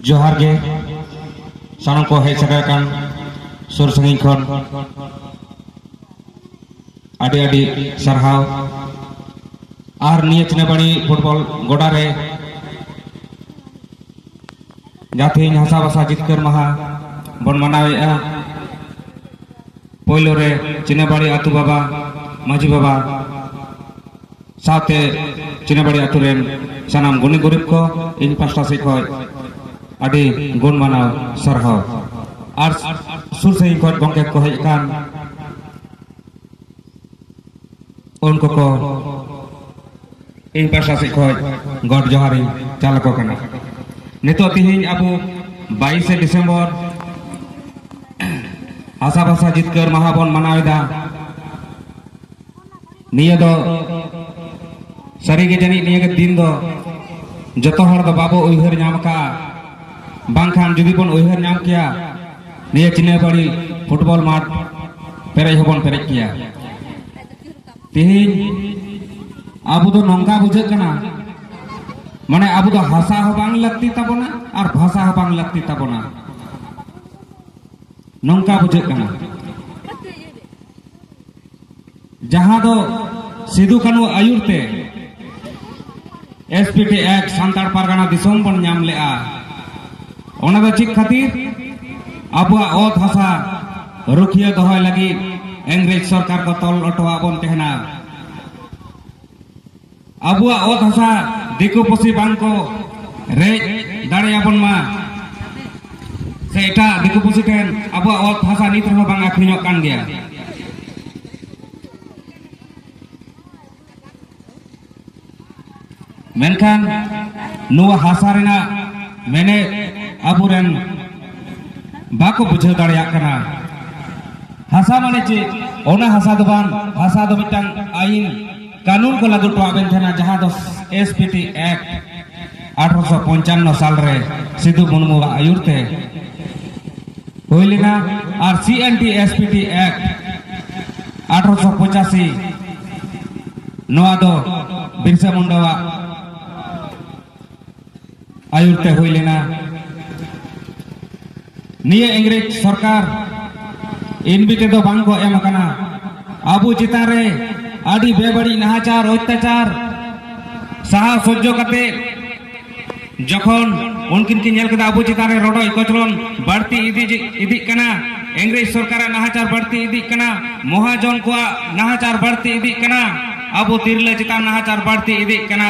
ᱡᱚᱦᱟᱨ ᱜᱮ ᱥᱟᱱᱟᱢ ᱠᱚ ᱦᱮᱡ ᱥᱮᱴᱮᱨ ᱟᱠᱟᱱ ᱥᱩᱨ ᱥᱟᱺᱜᱤᱧ ᱠᱷᱚᱱ ᱟᱹᱰᱤ ᱟᱹᱰᱤ ᱥᱟᱨᱦᱟᱣ ᱟᱨ ᱱᱤᱭᱟᱹ ᱪᱤᱱᱟᱵᱟᱲᱤ ᱯᱷᱩᱴᱵᱚᱞ ᱜᱚᱰᱟ ᱨᱮ ᱡᱟᱦᱟᱸ ᱛᱮᱦᱮᱧ ᱦᱟᱥᱟ ᱵᱷᱟᱥᱟ ᱡᱤᱛᱠᱟᱹᱨ ᱢᱟᱦᱟ ᱵᱚᱱ ᱢᱟᱱᱟᱣᱮᱫᱼᱟ ᱯᱳᱭᱞᱳ ᱨᱮ ᱪᱤᱱᱟᱵᱟᱲᱤ ᱟᱹᱛᱩ ᱵᱟᱵᱟ ᱢᱟᱹᱡᱷᱤ ᱵᱟᱵᱟ ᱥᱟᱶᱛᱮ ᱪᱤᱱᱟᱵᱟᱲᱤ ᱟᱹᱛᱩ ᱨᱮᱱ ᱥᱟᱱᱟᱢ ᱜᱩᱱᱤ ᱜᱩᱨᱤᱵ ᱠᱚ ᱤᱧ ᱯᱟᱥᱴᱟ ᱥᱮᱫ ᱠᱷᱚᱱ ᱟᱹᱰᱤ ᱜᱩᱱ ᱢᱟᱱᱟᱣ ᱥᱟᱨᱦᱟᱣ ᱟᱨ ᱥᱩᱨ ᱥᱟᱺᱜᱤᱧ ᱠᱷᱚᱱ ᱜᱚᱢᱠᱮ ᱠᱚ ᱦᱮᱡ ᱟᱠᱟᱱ ᱩᱱ ᱠᱚᱠᱚ ᱤᱧ ᱯᱟᱦᱴᱟ ᱥᱮᱫ ᱠᱷᱚᱱ ᱜᱚᱰ ᱡᱚᱦᱟᱨ ᱤᱧ ᱪᱟᱞ ᱟᱠᱚ ᱠᱟᱱᱟ ᱱᱤᱛᱚᱜ ᱛᱮᱦᱮᱧ ᱟᱵᱚ ᱵᱟᱭᱤᱥᱮ ᱰᱤᱥᱮᱢᱵᱚᱨ ᱦᱟᱥᱟ ᱵᱷᱟᱥᱟ ᱡᱤᱛᱠᱟᱹᱨ ᱢᱟᱦᱟ ᱵᱚᱱ ᱢᱟᱱᱟᱣ ᱮᱫᱟ ᱱᱤᱭᱟᱹ ᱫᱚ ᱥᱟᱹᱨᱤᱜᱮ ᱡᱟᱹᱱᱤᱡ ᱱᱤᱭᱟᱹ ᱜᱮ ᱫᱤᱱ ᱫᱚ ᱡᱚᱛᱚ ᱦᱚᱲ ᱫᱚ ᱵᱟᱵᱚ ᱩᱭᱦᱟᱹᱨ ᱧᱟᱢ ᱟᱠᱟᱫᱼᱟ ᱵᱟᱝᱠᱷᱟᱱ ᱡᱩᱫᱤ ᱵᱚᱱ ᱩᱭᱦᱟᱹᱨ ᱧᱟᱢ ᱠᱮᱭᱟ ᱱᱤᱭᱟᱹ ᱪᱤᱱᱟᱹᱯᱟᱲᱤ ᱯᱷᱩᱴᱵᱚᱞ ᱢᱟᱴ ᱯᱮᱨᱮᱡ ᱦᱚᱵᱚᱱ ᱯᱮᱨᱮᱡ ᱠᱮᱭᱟ ᱛᱮᱦᱮᱧ ᱟᱵᱚ ᱫᱚ ᱱᱚᱝᱠᱟ ᱵᱩᱡᱷᱟᱹᱜ ᱠᱟᱱᱟ ᱢᱟᱱᱮ ᱟᱵᱚ ᱫᱚ ᱦᱟᱥᱟ ᱦᱚᱸ ᱵᱟᱝ ᱞᱟᱹᱠᱛᱤ ᱛᱟᱵᱚᱱᱟ ᱟᱨ ᱵᱷᱟᱥᱟ ᱦᱚᱸ ᱵᱟᱝ ᱞᱟᱹᱠᱛᱤ ᱛᱟᱵᱚᱱᱟ ᱱᱚᱝᱠᱟ ᱵᱩᱡᱷᱟᱹᱜ ᱠᱟᱱᱟ ᱡᱟᱦᱟᱸ ᱫᱚ ᱥᱤᱫᱩ ᱠᱟᱹᱱᱩ ᱟᱹᱭᱩᱨ ᱛᱮ ᱮᱥᱯᱤᱴᱤ ᱮᱠ ᱥᱟᱱᱛᱟᱲ ᱯᱟᱨᱜᱟᱱᱟ ᱫᱤᱥᱚᱢ ᱵᱚᱱ ᱧᱟᱢ ᱞᱮᱜᱼᱟ ᱚᱱᱟ ᱫᱚ ᱪᱮᱫ ᱠᱷᱟᱹᱛᱤᱨ ᱟᱵᱚᱣᱟᱜ ᱚᱛ ᱦᱟᱥᱟ ᱨᱩᱠᱷᱤᱭᱟᱹ ᱫᱚᱦᱚᱭ ᱞᱟᱹᱜᱤᱫ ᱤᱝᱨᱮᱡᱽ ᱥᱚᱨᱠᱟᱨ ᱠᱚ ᱛᱚᱞ ᱚᱴᱚᱣᱟᱜ ᱵᱚᱱ ᱛᱟᱦᱮᱱᱟ ᱟᱵᱚᱣᱟᱜ ᱚᱛ ᱦᱟᱥᱟ ᱫᱤᱠᱩ ᱯᱩᱥᱤ ᱵᱟᱝ ᱠᱚ ᱨᱮᱡ ᱫᱟᱲᱮᱭᱟᱵᱚᱱ ᱢᱟ ᱥᱮ ᱮᱴᱟᱜ ᱫᱤᱠᱩ ᱯᱩᱥᱤ ᱴᱷᱮᱱ ᱟᱵᱚᱣᱟᱜ ᱚᱛ ᱦᱟᱥᱟ ᱱᱤᱛ ᱨᱮᱦᱚᱸ ᱵᱟᱝ ᱟᱹᱠᱷᱨᱤᱧᱚᱜ ᱠᱟᱱ ᱜᱮᱭᱟ ᱢᱮᱱᱠᱷᱟᱱ ᱱᱚᱣᱟ ᱦᱟᱥᱟ ᱨᱮᱱᱟᱜ ᱢᱮᱱᱮᱫ ᱟᱵᱚᱨᱮᱱ ᱵᱟᱠᱚ ᱵᱩᱡᱷᱟᱹᱣ ᱫᱟᱲᱮᱭᱟᱜ ᱠᱟᱱᱟ ᱦᱟᱥᱟ ᱢᱟᱱᱮ ᱪᱮᱫ ᱚᱱᱟ ᱦᱟᱥᱟ ᱫᱚ ᱵᱟᱝ ᱦᱟᱥᱟ ᱫᱚ ᱢᱤᱫᱴᱟᱝ ᱟᱭᱤᱱ ᱠᱟᱹᱱᱩᱱ ᱠᱚ ᱞᱟᱹᱜᱩ ᱴᱚᱣᱟᱜ ᱵᱮᱱ ᱛᱟᱦᱮᱱᱟ ᱡᱟᱦᱟᱸ ᱫᱚ ᱮᱥ ᱯᱤ ᱴᱤ ᱮᱠᱴ ᱟᱴᱷᱨᱚᱥᱚ ᱯᱚᱧᱪᱟᱱᱱᱚ ᱥᱟᱞ ᱨᱮ ᱥᱤᱫᱩ ᱢᱩᱨᱢᱩᱣᱟᱜ ᱟᱹᱭᱩᱨ ᱛᱮ ᱦᱩᱭ ᱞᱮᱱᱟ ᱟᱨ C N T S P T act ᱟᱴᱷᱨᱚᱥᱚ ᱯᱚᱸᱪᱟᱥᱤ ᱱᱚᱣᱟ ᱫᱚ ᱵᱤᱨᱥᱟ ᱢᱩᱱᱰᱟᱣᱟᱜ ᱟᱭᱩᱨᱛᱮ ᱦᱩᱭ ᱞᱮᱱᱟ ᱱᱤᱭᱟᱹ ᱤᱝᱨᱮᱡᱽ ᱥᱚᱨᱠᱟᱨ ᱤᱱᱵᱤᱴᱮ ᱫᱚ ᱵᱟᱝ ᱠᱚ ᱮᱢ ᱟᱠᱟᱱᱟ ᱟᱵᱚ ᱪᱮᱛᱟᱱ ᱨᱮ ᱟᱹᱰᱤ ᱵᱮᱵᱟᱹᱲᱤᱡ ᱱᱟᱦᱟᱪᱟᱨ ᱚᱛᱛᱟᱪᱟᱨ ᱥᱟᱦᱟ ᱥᱚᱡᱽᱡᱚ ᱠᱟᱛᱮ ᱡᱚᱠᱷᱚᱱ ᱩᱱᱠᱤᱱ ᱠᱤᱱ ᱧᱮᱞ ᱠᱮᱫᱟ ᱟᱵᱚ ᱪᱮᱛᱟᱱ ᱨᱮ ᱨᱚᱰᱚᱡ ᱠᱚᱪᱞᱚᱱ ᱵᱟᱹᱲᱛᱤ ᱤᱫᱤ ᱤᱫᱤᱜ ᱠᱟᱱᱟ ᱤᱝᱨᱮᱡᱽ ᱥᱚᱨᱠᱟᱨᱟᱜ ᱱᱟᱦᱟᱪᱟᱨ ᱵᱟᱹᱲᱛᱤ ᱤᱫᱤᱜ ᱠᱟᱱᱟ ᱢᱚᱦᱟᱡᱚᱱ ᱠᱚᱣᱟᱜ ᱱᱟᱦᱟᱪᱟᱨ ᱵᱟᱹᱲᱛᱤ ᱤᱫᱤᱜ ᱠᱟᱱᱟ ᱟᱵᱚ ᱛᱤᱨᱞᱟᱹ ᱪᱮᱛᱟᱱ ᱱᱟᱦᱟᱪᱟᱨ ᱵᱟᱹᱲᱛᱤ ᱤᱫᱤᱜ ᱠᱟᱱᱟ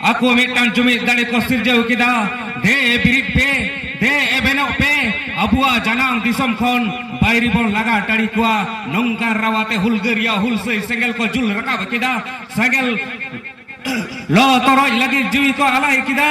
ᱟᱠᱚ ᱢᱤᱫᱴᱟᱝ ᱡᱩᱢᱤᱫ ᱫᱟᱲᱮ ᱠᱚ ᱥᱤᱨᱡᱟᱹᱣ ᱠᱮᱫᱟ ᱫᱮ ᱵᱤᱨᱤᱫ ᱯᱮ ᱫᱮ ᱮᱵᱮᱱᱚᱜ ᱯᱮ ᱟᱵᱚᱣᱟᱜ ᱡᱟᱱᱟᱢ ᱫᱤᱥᱚᱢ ᱠᱷᱚᱱ ᱵᱟᱭᱨᱤ ᱵᱚᱱ ᱞᱟᱜᱟ ᱴᱟᱲᱤ ᱠᱚᱣᱟ ᱱᱚᱝᱠᱟ ᱨᱟᱣᱟᱛᱮ ᱦᱩᱞᱜᱟᱹᱨᱤᱭᱟ ᱦᱩᱞᱥᱟᱹᱭ ᱥᱮᱸᱜᱮᱞ ᱠᱚ ᱡᱩᱞ ᱨᱟᱠᱟᱵ ᱠᱮᱫᱟ ᱥᱮᱸᱜᱮᱞ ᱞᱚ ᱛᱚᱨᱚᱡ ᱞᱟᱹᱜᱤᱫ ᱡᱤᱣᱤ ᱠᱚ ᱟᱞᱟᱭ ᱠᱮᱫᱟ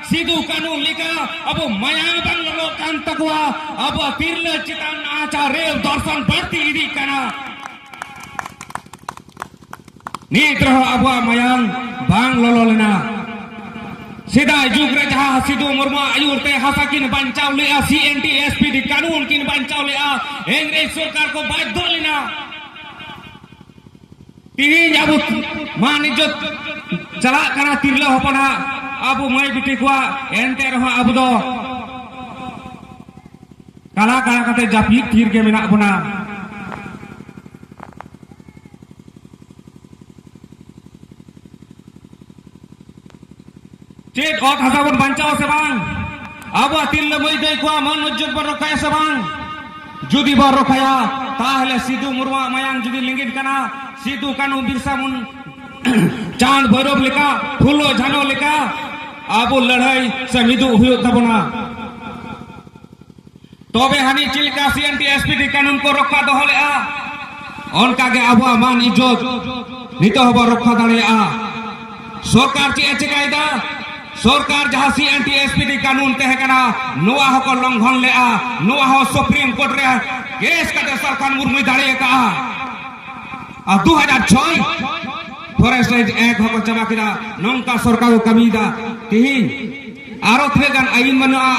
ᱥᱤᱫᱩ ᱠᱟᱹᱱᱩ ᱞᱮᱠᱟ ᱟᱵᱚ ᱢᱟᱭᱟᱢ ᱵᱟᱝ ᱞᱚᱞᱚᱜ ᱠᱟᱱ ᱛᱟᱠᱚᱣᱟ ᱟᱵᱚ ᱛᱤᱨᱞᱟᱹ ᱪᱮᱛᱟᱱ ᱱᱟᱦᱟᱪᱟᱨ ᱨᱮᱞ ᱫᱚᱨᱥᱚᱱ ᱵᱟᱹᱲᱛᱤ ᱤᱫᱤᱜ ᱠᱟᱱᱟ ᱱᱤᱛ ᱨᱮᱦᱚᱸ ᱟᱵᱚᱣᱟᱜ ᱢᱟᱭᱟᱢ ᱵᱟᱝ ᱞᱚᱞᱚ ᱞᱮᱱᱟ ᱥᱮᱫᱟᱭ ᱡᱩᱜᱽ ᱨᱮ ᱡᱟᱦᱟᱸ ᱥᱤᱫᱩ ᱢᱩᱨᱢᱩ ᱟᱹᱭᱩᱨ ᱛᱮ ᱦᱟᱥᱟ ᱠᱤᱱ ᱵᱟᱧᱪᱟᱣ ᱞᱮᱜᱼᱟ C N T S P D ᱠᱟᱹᱱᱩᱱ ᱠᱤᱱ ᱵᱟᱧᱪᱟᱣ ᱞᱮᱜᱼᱟ ᱤᱝᱨᱮᱡᱽ ᱥᱚᱨᱠᱟᱨ ᱠᱚ ᱵᱟᱫᱽᱫᱷᱚ ᱞᱮᱱᱟ ᱛᱮᱦᱮᱧ ᱟᱵᱚ ᱢᱟᱱ ᱤᱡᱡᱚᱛ ᱪᱟᱞᱟᱜ ᱠᱟᱱᱟ ᱛᱤᱨᱞᱟᱹ ᱦᱚᱯᱚᱱᱟᱜ ᱟᱵᱚ ᱢᱟᱹᱭ ᱵᱤᱴᱤ ᱠᱚᱣᱟᱜ ᱮᱱᱛᱮ ᱨᱮᱦᱚᱸ ᱟᱵᱚ ᱫᱚ ᱠᱟᱞᱟ ᱠᱟᱞᱟ ᱠᱟᱛᱮ ᱡᱟᱹᱯᱤᱫ ᱛᱷᱤᱨ ᱜᱮ ᱢᱮᱱᱟᱜ ᱵᱚᱱᱟ ᱪᱮᱫ ᱚᱛ ᱦᱟᱥᱟ ᱵᱚᱱ ᱵᱟᱧᱪᱟᱣ ᱥᱮ ᱵᱟᱝ ᱟᱵᱚᱣᱟᱜ ᱛᱤᱨᱞᱟᱹ ᱢᱟᱹᱭ ᱫᱟᱹᱭ ᱠᱚᱣᱟᱜ ᱢᱟᱹᱱ ᱢᱚᱨᱡᱚᱫ ᱵᱚᱱ ᱨᱚᱠᱷᱟᱭᱟ ᱥᱮ ᱵᱟᱝ ᱡᱩᱫᱤ ᱵᱚᱱ ᱨᱚᱠᱷᱟᱭᱟ ᱛᱟᱦᱞᱮ ᱥᱤᱫᱩ ᱢᱩᱨᱢᱩᱣᱟᱜ ᱢᱟᱭᱟᱝ ᱡᱩᱫᱤ ᱞᱤᱸᱜᱤᱱ ᱠᱟᱱᱟ ᱥᱤᱫᱩ ᱠᱟᱹᱱᱩ ᱵᱤᱨᱥᱟ ᱢᱩᱱ ᱪᱟᱸᱫ ᱵᱷᱳᱭᱨᱚᱵ ᱞᱮᱠᱟ ᱯᱷᱩᱞᱳ ᱡᱷᱟᱱᱚ ᱞᱮᱠᱟ ᱟᱵᱚ ᱞᱟᱹᱲᱦᱟᱹᱭ ᱥᱮ ᱢᱤᱫᱩᱜ ᱦᱩᱭᱩᱜ ᱛᱟᱵᱚᱱᱟ ᱛᱚᱵᱮ ᱦᱟᱹᱱᱤ ᱪᱮᱫ ᱞᱮᱠᱟ ᱥᱤᱮᱱᱴᱤ ᱮᱥᱯᱤ ᱠᱤ ᱠᱟᱹᱱᱩᱱ ᱠᱚ ᱨᱚᱠᱠᱷᱟ ᱫᱚᱦᱚ ᱞᱮᱜᱼᱟ ᱚᱱᱠᱟ ᱜᱮ ᱟᱵᱚᱣᱟᱜ ᱢᱟᱱ ᱤᱡᱽᱡᱚᱛ ᱱᱤᱛᱚᱜ ᱦᱚᱸᱵᱚ ᱨᱚᱠᱠᱷᱟ ᱫᱟᱲᱮᱭᱟᱜᱼᱟ ᱥᱚᱨᱠᱟᱨ ᱪᱮᱫ ᱮ ᱪᱮᱠᱟᱭᱮᱫᱟ ᱥᱚᱨᱠᱟᱨ ᱡᱟᱦᱟᱸ ᱥᱤᱮᱱᱴᱤ ᱮᱥᱯᱤ ᱠᱤ ᱠᱟᱹᱱᱩᱱ ᱛᱟᱦᱮᱸ ᱠᱟᱱᱟ ᱱᱚᱣᱟ ᱦᱚᱸᱠᱚ ᱞᱚᱝᱜᱷᱚᱱ ᱞᱮᱜᱼᱟ ᱱᱚᱣᱟ ᱦᱚᱸ ᱥᱩᱯᱨᱤᱢ ᱠᱳᱨᱴ ᱨᱮ ᱠᱮᱥ ᱠᱟᱛᱮ ᱥᱟᱞᱠᱷᱟᱱ ᱢᱩᱨᱢᱩᱭ ᱫᱟᱲᱮ ᱟᱠᱟᱜᱼᱟ ᱟᱨ ᱫᱩ ᱦᱟᱡᱟᱨ ᱪᱷᱚᱭ ᱯᱷᱚᱨᱮᱥᱴ ᱮᱠᱴ ᱦᱚᱸᱠᱚ ᱪᱟᱵᱟ ᱠᱮᱫᱟ ᱱᱚᱝᱠᱟ ᱥᱚᱨᱠᱟᱨ ᱠᱚ ᱠᱟᱹᱢᱤᱭᱮᱫᱟ ᱛᱮᱦᱤᱧ ᱟᱨᱚ ᱛᱤᱱᱟᱹᱜ ᱜᱟᱱ ᱟᱹᱭᱤᱱ ᱵᱟᱹᱱᱩᱜᱼᱟ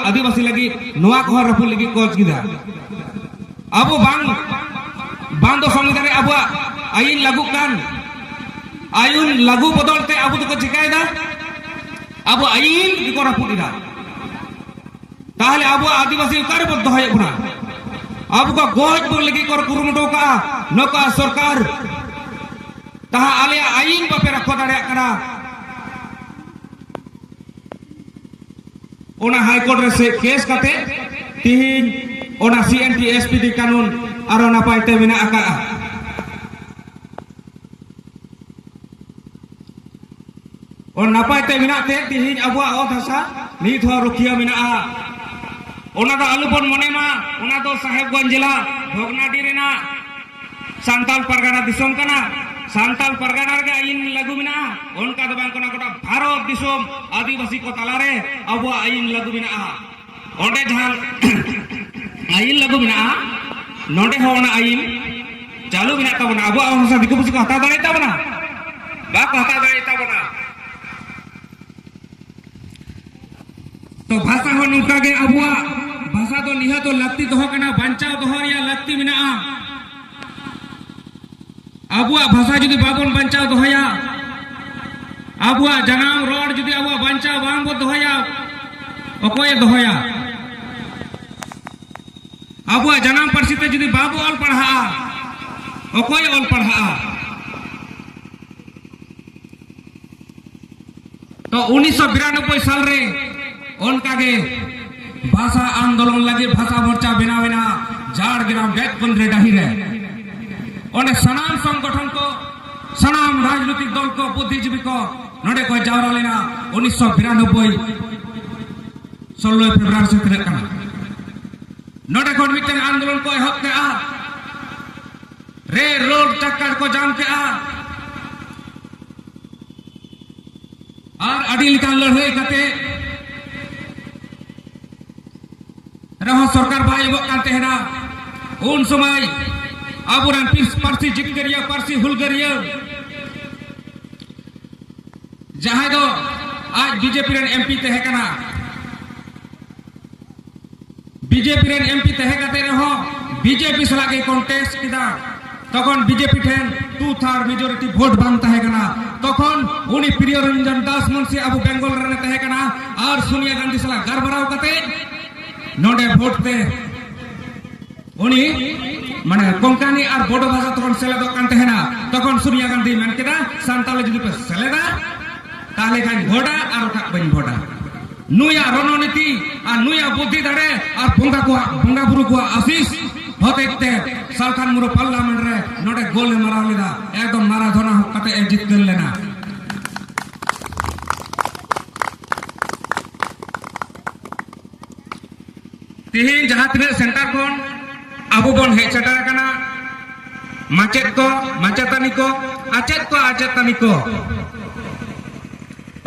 ᱟᱹᱫᱤᱵᱟᱹᱥᱤ ᱞᱟᱹᱜᱤᱫ ᱱᱚᱣᱟ ᱠᱚᱦᱚᱸ ᱨᱟᱹᱯᱩᱫ ᱞᱟᱹᱜᱤᱫ ᱠᱚ ᱠᱮᱫᱟ ᱟᱵᱚ ᱵᱟᱝ ᱵᱟᱝ ᱫᱚ ᱥᱚᱝᱵᱤᱫᱷᱟᱱ ᱨᱮ ᱟᱵᱚᱣᱟᱜ ᱟᱹᱭᱤᱱ ᱞᱟᱹᱜᱩᱜ ᱠᱟᱱ ᱟᱹᱭᱤᱱ ᱞᱟᱹᱜᱩ ᱵᱚᱫᱚᱞ ᱛᱮ ᱟᱵᱚ ᱫᱚᱠᱚ ᱪᱤᱠᱟᱹᱭᱮᱫᱟ ᱟᱵᱚ ᱟᱹᱭᱤᱱ ᱜᱮᱠᱚ ᱨᱟᱹᱯᱩᱫ ᱮᱫᱟ ᱛᱟᱦᱚᱞᱮ ᱟᱵᱚᱣᱟᱜ ᱟᱹᱫᱤᱵᱟᱹᱥᱤ ᱚᱠᱟᱨᱮ ᱵᱚᱱ ᱫᱚᱦᱚᱭᱮᱫ ᱵᱚᱱᱟ ᱟᱵᱚ ᱠᱚ ᱜᱚᱡ ᱵᱚᱱ ᱞᱟᱹᱜᱤᱫ ᱠᱚ ᱠᱩᱨᱩᱢᱩᱴᱩ ᱠᱟᱜᱼᱟ ᱱᱚᱝᱠᱟ ᱥᱚᱨᱠᱟᱨ ᱛᱟᱦᱟ ᱟᱞᱮᱭᱟᱜ ᱟᱹᱭᱤᱱ ᱵᱟᱯᱮ ᱨᱟᱠᱷᱟ ᱫᱟᱲᱮᱭᱟᱜ ᱠᱟᱱᱟ ᱚᱱᱟ ᱦᱟᱭᱠᱳᱨᱴ ᱨᱮ ᱥᱮ ᱠᱮᱥ ᱠᱟᱛᱮ ᱛᱤᱦᱤᱧ ᱚᱱᱟ C N T S P D ᱠᱟᱱᱩᱱ ᱟᱨᱚ ᱱᱟᱯᱟᱭ ᱛᱮ ᱢᱮᱱᱟᱜ ᱟᱠᱟᱫᱼᱟ ᱚᱱᱟ ᱱᱟᱯᱟᱭ ᱛᱮ ᱢᱮᱱᱟᱜ ᱛᱮ ᱛᱤᱦᱤᱧ ᱟᱵᱚᱣᱟᱜ ᱚᱛ ᱦᱟᱥᱟ ᱱᱤᱛ ᱦᱚᱸ ᱨᱩᱠᱷᱤᱭᱟᱹ ᱢᱮᱱᱟᱜᱼᱟ ᱚᱱᱟ ᱫᱚ ᱟᱞᱚᱵᱚᱱ ᱢᱚᱱᱮ ᱢᱟ ᱚᱱᱟ ᱫᱚ ᱥᱟᱦᱮᱵᱽᱜᱚᱸᱡᱽ ᱡᱮᱞᱟ ᱵᱷᱚᱜᱽᱱᱟᱰᱤ ᱨᱮᱱᱟᱜ ᱥᱟᱱᱛᱟᱞ ᱯᱟᱨᱜᱟᱱᱟ ᱫᱤᱥᱚᱢ ᱠᱟᱱᱟ ᱥᱟᱱᱛᱟᱞ ᱯᱟᱨᱜᱟᱱᱟ ᱨᱮᱜᱮ ᱟᱭᱤᱱ ᱞᱟᱹᱜᱩ ᱢᱮᱱᱟᱜᱼᱟ ᱚᱱᱠᱟ ᱫᱚ ᱵᱟᱝ ᱠᱟᱱᱟ ᱜᱚᱴᱟ ᱵᱷᱟᱨᱚᱛ ᱫᱤᱥᱚᱢ ᱟᱹᱫᱤᱵᱟᱹᱥᱤ ᱠᱚ ᱛᱟᱞᱟᱨᱮ ᱟᱵᱚᱣᱟᱜ ᱟᱭᱤᱱ ᱞᱟᱹᱜᱩ ᱢᱮᱱᱟᱜᱼᱟ ᱚᱸᱰᱮ ᱡᱟᱦᱟᱸ ᱟᱭᱤᱱ ᱞᱟᱹᱜᱩ ᱢᱮᱱᱟᱜᱼᱟ ᱱᱚᱰᱮ ᱦᱚᱸ ᱚᱱᱟ ᱟᱭᱤᱱ ᱪᱟᱹᱞᱩ ᱢᱮᱱᱟᱜ ᱛᱟᱵᱚᱱᱟ ᱟᱵᱚᱣᱟᱜ ᱵᱷᱟᱥᱟ ᱫᱤᱠᱩ ᱯᱩᱥᱤ ᱠᱚ ᱦᱟᱛᱟᱣ ᱫᱟᱲᱮᱭ ᱛᱟᱵᱚᱱᱟ ᱵᱟᱠᱚ ᱦᱟᱛᱟᱣ ᱫᱟᱲᱮᱭ ᱛᱟᱵᱚᱱᱟ ᱵᱷᱟᱥᱟ ᱦᱚᱸ ᱱᱚᱝᱠᱟ ᱜᱮ ᱟᱵᱚᱣᱟᱜ ᱵᱷᱟᱥᱟ ᱫᱚ ᱱᱤᱦᱟᱹ ᱫᱚ ᱞᱟᱹᱠᱛᱤ ᱫᱚᱦᱚ ᱠᱟᱱᱟ ᱵᱟᱧᱪᱟᱣ ᱫᱚᱦᱚ ᱨᱮᱭᱟᱜ ᱞᱟᱹᱠᱛᱤ ᱢᱮᱱᱟᱜᱼᱟ ᱟᱵᱚᱣᱟᱜ ᱵᱷᱟᱥᱟ ᱡᱩᱫᱤ ᱵᱟᱵᱚᱱ ᱵᱟᱧᱪᱟᱣ ᱫᱚᱦᱚᱭᱟ ᱟᱵᱚᱣᱟᱜ ᱡᱟᱱᱟᱢ ᱨᱚᱲ ᱡᱩᱫᱤ ᱟᱵᱚᱣᱟᱜ ᱵᱟᱧᱪᱟᱣ ᱵᱟᱝ ᱵᱚ ᱫᱚᱦᱚᱭᱟ ᱚᱠᱚᱭᱮ ᱫᱚᱦᱚᱭᱟ ᱟᱵᱚᱣᱟᱜ ᱡᱟᱱᱟᱢ ᱯᱟᱹᱨᱥᱤ ᱛᱮ ᱡᱩᱫᱤ ᱵᱟᱵᱚ ᱚᱞ ᱯᱟᱲᱦᱟᱜᱼᱟ ᱚᱠᱚᱭᱮ ᱚᱞ ᱯᱟᱲᱦᱟᱜᱼᱟ ᱛᱚ ᱩᱱᱤᱥᱥᱚ ᱵᱤᱨᱟᱱᱚᱵᱵᱳᱭ ᱥᱟᱞ ᱨᱮ ᱚᱱᱠᱟᱜᱮ ᱵᱷᱟᱥᱟ ᱟᱱᱫᱳᱞᱚᱱ ᱞᱟᱹᱜᱤᱫ ᱵᱷᱟᱥᱟ ᱢᱳᱨᱪᱟ ᱵᱮᱱᱟᱣ ᱮᱱᱟ ᱡᱷᱟᱲᱜᱨᱟᱢ ᱵᱮᱛᱠᱩᱱ ᱨᱮ ᱰᱟᱹᱦᱤ ᱨᱮ ᱚᱸᱰᱮ ᱥᱟᱱᱟᱢ ᱥᱚᱝᱜᱚᱴᱷᱚᱱ ᱠᱚ ᱥᱟᱱᱟᱢ ᱨᱟᱡᱽᱱᱳᱭᱛᱤᱠ ᱫᱚᱞ ᱠᱚ ᱵᱩᱫᱽᱫᱷᱤᱡᱤᱵᱤ ᱠᱚ ᱱᱚᱰᱮ ᱠᱚ ᱡᱟᱣᱨᱟ ᱞᱮᱱᱟ ᱩᱱᱤᱥᱥᱚ ᱵᱤᱨᱟᱱᱚᱵᱵᱳᱭ ᱥᱳᱞᱞᱳᱭ ᱯᱷᱮᱵᱽᱨᱩᱣᱟᱨᱤ ᱥᱮ ᱛᱤᱱᱟᱹᱜ ᱠᱟᱱᱟ ᱱᱚᱰᱮ ᱠᱷᱚᱱ ᱢᱤᱫᱴᱮᱱ ᱟᱱᱫᱳᱞᱚᱱ ᱠᱚ ᱮᱦᱚᱵ ᱠᱮᱜᱼᱟ ᱨᱮ ᱨᱳᱰ ᱪᱟᱠᱟᱨ ᱠᱚ ᱡᱟᱢ ᱠᱮᱜᱼᱟ ᱟᱨ ᱟᱹᱰᱤ ᱞᱮᱠᱟᱱ ᱞᱟᱹᱲᱦᱟᱹᱭ ᱠᱟᱛᱮ ᱨᱮᱦᱚᱸ ᱥᱚᱨᱠᱟᱨ ᱵᱟᱭ ᱮᱢᱚᱜ ᱠᱟᱱ ᱛᱟᱦᱮᱱᱟ ᱩᱱ ᱥᱚᱢᱚᱭ ᱟᱵᱚᱨᱮᱱ ᱯᱟᱹᱨᱥᱤ ᱡᱤᱛᱠᱟᱹᱨᱤᱭᱟᱹ ᱯᱟᱹᱨᱥᱤ ᱦᱩᱞᱜᱟᱹᱨᱤᱭᱟᱹ ᱡᱟᱦᱟᱸᱭ ᱫᱚ ᱟᱡ ᱵᱤᱡᱮᱯᱤ ᱨᱮᱱ ᱮᱢᱯᱤ ᱛᱟᱦᱮᱸ ᱠᱟᱱᱟ ᱵᱤᱡᱮᱯᱤ ᱨᱮᱱ ᱮᱢᱯᱤ ᱛᱟᱦᱮᱸ ᱠᱟᱛᱮ ᱨᱮᱦᱚᱸ ᱵᱤᱡᱮᱯᱤ ᱥᱟᱞᱟᱜ ᱜᱮ ᱠᱚᱱᱴᱮᱥᱴ ᱠᱮᱫᱟ ᱛᱚᱠᱷᱚᱱ ᱵᱤᱡᱮᱯᱤ ᱴᱷᱮᱱ ᱴᱩ ᱛᱷᱟᱨᱰ ᱢᱮᱡᱚᱨᱤᱴᱤ ᱵᱷᱳᱴ ᱵᱟᱝ ᱛᱟᱦᱮᱸ ᱠᱟᱱᱟ ᱛᱚᱠᱷᱚᱱ ᱩᱱᱤ ᱯᱨᱤᱭᱚ ᱨᱚᱧᱡᱚᱱ ᱫᱟᱥ ᱢᱩᱱᱥᱤ ᱟᱵᱚ ᱵᱮᱝᱜᱚᱞ ᱨᱮ ᱛᱟᱦᱮᱸ ᱠᱟᱱᱟ ᱟᱨ ᱥᱳᱱᱤᱭᱟ ᱜᱟᱱᱫᱷᱤ ᱥᱟᱞᱟᱜ ᱜᱟᱨᱵᱟᱨᱟᱣ ᱠᱟᱛᱮ ᱱᱚᱰᱮ ᱵᱷᱳᱴ ᱛᱮ ᱩᱱᱤ ᱢᱟᱱᱮ ᱠᱚᱝᱠᱟᱱᱤ ᱟᱨ ᱵᱚᱰᱚ ᱵᱷᱟᱥᱟ ᱛᱚᱠᱷᱚᱱ ᱥᱮᱞᱮᱫᱚᱜ ᱠᱟᱱ ᱛᱟᱦᱮᱱᱟ ᱛᱚᱠᱷᱚᱱ ᱥᱳᱱᱤᱭᱟ ᱜᱟᱱᱫᱷᱤ ᱢᱮᱱ ᱠᱮᱫᱟ ᱥᱟᱱᱛᱟᱲ ᱡᱩᱫᱤ ᱯᱮ ᱥᱮᱞᱮᱫᱟ ᱛᱟᱦᱞᱮ ᱠᱷᱟᱱ ᱵᱷᱳᱴᱟ ᱟᱨ ᱵᱟᱠᱷᱟᱡ ᱵᱟᱹᱧ ᱵᱷᱳᱴᱟ ᱱᱩᱭᱟᱜ ᱨᱚᱱᱚᱱᱤᱛᱤ ᱟᱨ ᱱᱩᱭᱟᱜ ᱵᱩᱫᱷᱤ ᱫᱟᱲᱮ ᱟᱨ ᱵᱚᱸᱜᱟ ᱠᱚᱣᱟᱜ ᱵᱚᱸᱜᱟ ᱵᱩᱨᱩ ᱠᱚᱣᱟᱜ ᱟᱥᱤᱥ ᱦᱚᱛᱮᱡ ᱛᱮ ᱥᱟᱞᱠᱷᱟᱱ ᱢᱩᱨᱩ ᱯᱟᱨᱞᱟᱢᱮᱱᱴ ᱨᱮ ᱱᱚᱰᱮ ᱜᱳᱞ ᱮ ᱢᱟᱨᱟᱣ ᱞᱮᱫᱟ ᱮᱠᱫᱚᱢ ᱢᱟᱨᱟᱫᱷᱚᱱᱟ ᱦᱚᱸ ᱠᱟᱛᱮ ᱮ ᱡᱤᱛᱠᱟᱹᱨ ᱞᱮᱱᱟ ᱛᱮᱦᱮᱧ ᱡᱟᱦᱟᱸ ᱛᱤᱱᱟᱹᱜ ᱥᱮᱱᱴᱟᱨ ᱠᱷᱚᱱ ᱟᱵᱚ ᱵᱚᱱ ᱦᱮᱡ ᱥᱮᱴᱮᱨ ᱟᱠᱟᱱᱟ ᱢᱟᱪᱮᱫ ᱠᱚ ᱢᱟᱪᱮᱛᱟᱹᱱᱤ ᱠᱚ ᱟᱪᱮᱫ ᱠᱚ ᱟᱪᱮᱛᱟᱹᱱᱤ ᱠᱚ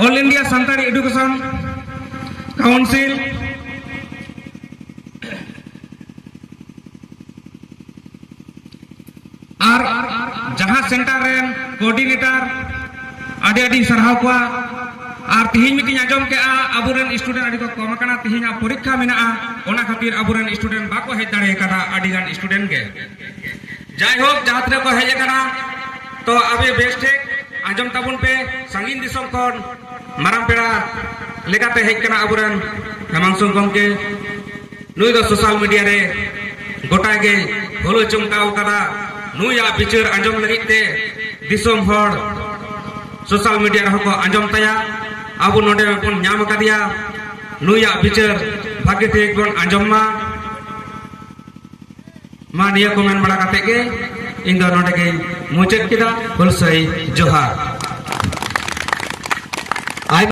all India Santali education council ᱟᱨ ᱡᱟᱦᱟᱸ ᱥᱮᱱᱴᱟᱨ ᱨᱮᱱ ᱠᱳᱚᱨᱰᱤᱱᱮᱴᱟᱨ ᱟᱹᱰᱤ ᱟᱹᱰᱤ ᱥᱟᱨᱦᱟᱣ ᱠᱚᱣᱟ ᱟᱨ ᱛᱤᱦᱤᱧ ᱢᱤᱫᱴᱤᱧ ᱟᱸᱡᱚᱢ ᱠᱮᱜᱼᱟ ᱟᱵᱚᱨᱮᱱ ᱥᱴᱩᱰᱮᱱᱴ ᱟᱹᱰᱤ ᱠᱚ ᱠᱚᱢ ᱟᱠᱟᱱᱟ ᱛᱤᱦᱤᱧᱟᱜ ᱯᱚᱨᱤᱠᱠᱷᱟ ᱢᱮᱱᱟᱜᱼᱟ ᱚᱱᱟ ᱠᱷᱟᱹᱛᱤᱨ ᱟᱵᱚᱨᱮᱱ ᱥᱴᱩᱰᱮᱱᱴ ᱵᱟᱠᱚ ᱦᱮᱡ ᱫᱟᱲᱮ ᱟᱠᱟᱫᱟ ᱟᱹᱰᱤ ᱜᱟᱱ ᱥᱴᱩᱰᱮᱱᱴ ᱜᱮ ᱡᱟᱭᱦᱳᱠ ᱡᱟᱦᱟᱸ ᱛᱤᱱᱟᱹᱜ ᱠᱚ ᱦᱮᱡ ᱟᱠᱟᱱᱟ ᱛᱚ ᱟᱵᱮ ᱵᱮᱥ ᱴᱷᱤᱠ ᱟᱸᱡᱚᱢ ᱛᱟᱵᱚᱱ ᱯᱮ ᱥᱟᱺᱜᱤᱧ ᱫᱤᱥᱚᱢ ᱠᱷᱚᱱ ᱢᱟᱨᱟᱝ ᱯᱮᱲᱟ ᱞᱮᱠᱟᱛᱮ ᱦᱮᱡ ᱠᱟᱱᱟ ᱟᱵᱚᱨᱮᱱ ᱦᱮᱢᱟᱝᱥᱩ ᱜᱚᱢᱠᱮ ᱱᱩᱭ ᱫᱚ ᱥᱳᱥᱟᱞ ᱢᱤᱰᱤᱭᱟ ᱨᱮ ᱜᱚᱴᱟ ᱜᱮ ᱦᱩᱞᱟᱹ ᱪᱚᱢᱠᱟᱣ ᱟᱠᱟᱫᱟ ᱱᱩᱭᱟᱜ ᱵᱤᱪᱟᱹᱨ ᱟᱸᱡᱚᱢ ᱞᱟᱹᱜᱤᱫ ᱛᱮ ᱫᱤᱥᱚᱢ ᱦᱚᱲ ᱥᱳᱥᱟᱞ ᱢᱤᱰᱤᱭᱟ ᱨᱮᱦᱚᱸ ᱠᱚ ᱟᱸᱡᱚᱢ ᱛᱟᱭᱟ ᱟᱵᱚ ᱱᱚᱰᱮ ᱵᱚᱱ ᱧᱟᱢ ᱟᱠᱟᱫᱮᱭᱟ ᱱᱩᱭᱟᱜ ᱵᱤᱪᱟᱹᱨ ᱵᱷᱟᱜᱮ ᱴᱷᱤᱠ ᱵᱚᱱ ᱟᱸᱡᱚᱢ ᱢᱟ ᱢᱟ ᱱᱤᱭᱟᱹ ᱠᱚ ᱢᱮᱱ ᱵᱟᱲᱟ ᱠᱟᱛᱮ ᱜᱮ ᱤᱧ ᱫᱚ ᱱᱚᱰᱮ ᱜᱮ ᱢᱩᱪᱟᱹᱫ ᱠᱮᱫᱟ ᱦᱩᱞᱥᱟᱹᱭ ᱡᱚᱦᱟᱨ